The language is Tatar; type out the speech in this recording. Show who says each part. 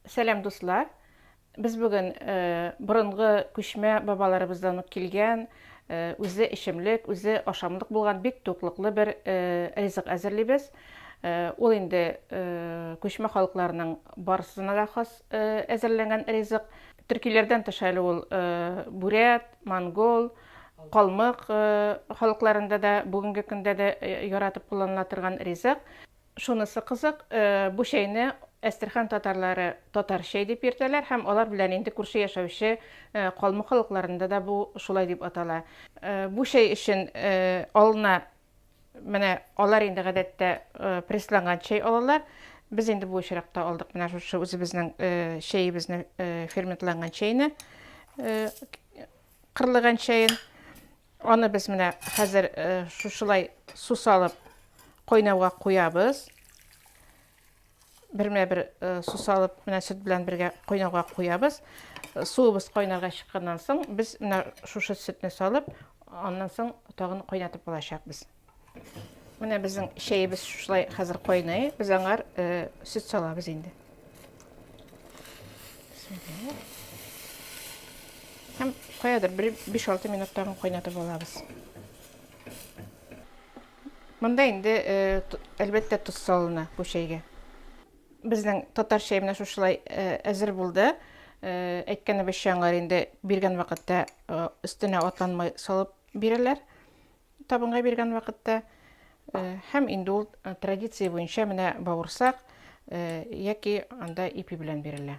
Speaker 1: Сәлам дуслар! Без бүген борынгы күчмә бабаларыбыздан ук килгән, үзе эчемлек, үзе ашамлык булган бик туклыклы бер ризык әзерлибез. Ул инде күчмә халыкларның барысына да хас әзерләнгән ризык. Төркиләрдән тыш әле ул бүрәт, монгол, калмык халыкларында да бүгенге көндә дә яратып кулланыла торган ризык. Шунысы кызык, бу чәйне Әстерхан татарлары татар чәй дип йөртәләр һәм алар белән инде күрше яшәүче калмык халыкларында да бу шулай дип атала. Бу чәй өчен алына менә алар инде гадәттә прессланган чәй алалар. Без инде бу очракта алдык менә шушы үзебезнең чәебезне, ферментланган чәйне, кырлыган чәен. Аны без менә хәзер шушылай су салып кайнауга куябыз. Бермә-бер су салып, менә сөт белән бергә кайнауга куябыз. Суыбыз кайнарга чыкканнан соң, без менә шушы сөтне салып, аннан соң тагын кайнатып алачакбыз. Менә безнең чәебез шулай хәзер кайный. Без аңар э, сөт салабыз инде. Һәм каядыр 5-6 минут тагын кайнатып алабыз. Монда инде э, әлбәттә тоз салына бу чәйгә. Безнең татар чәе менә шушылай э, әзер булды. Әйткәнебезчә аңар инде биргән вакытта өстенә атланмай салып бирәләр. Табынга биргән вакытта һәм инде ул традиция буенча менә бавырсак яки анда ипи белән бирелә.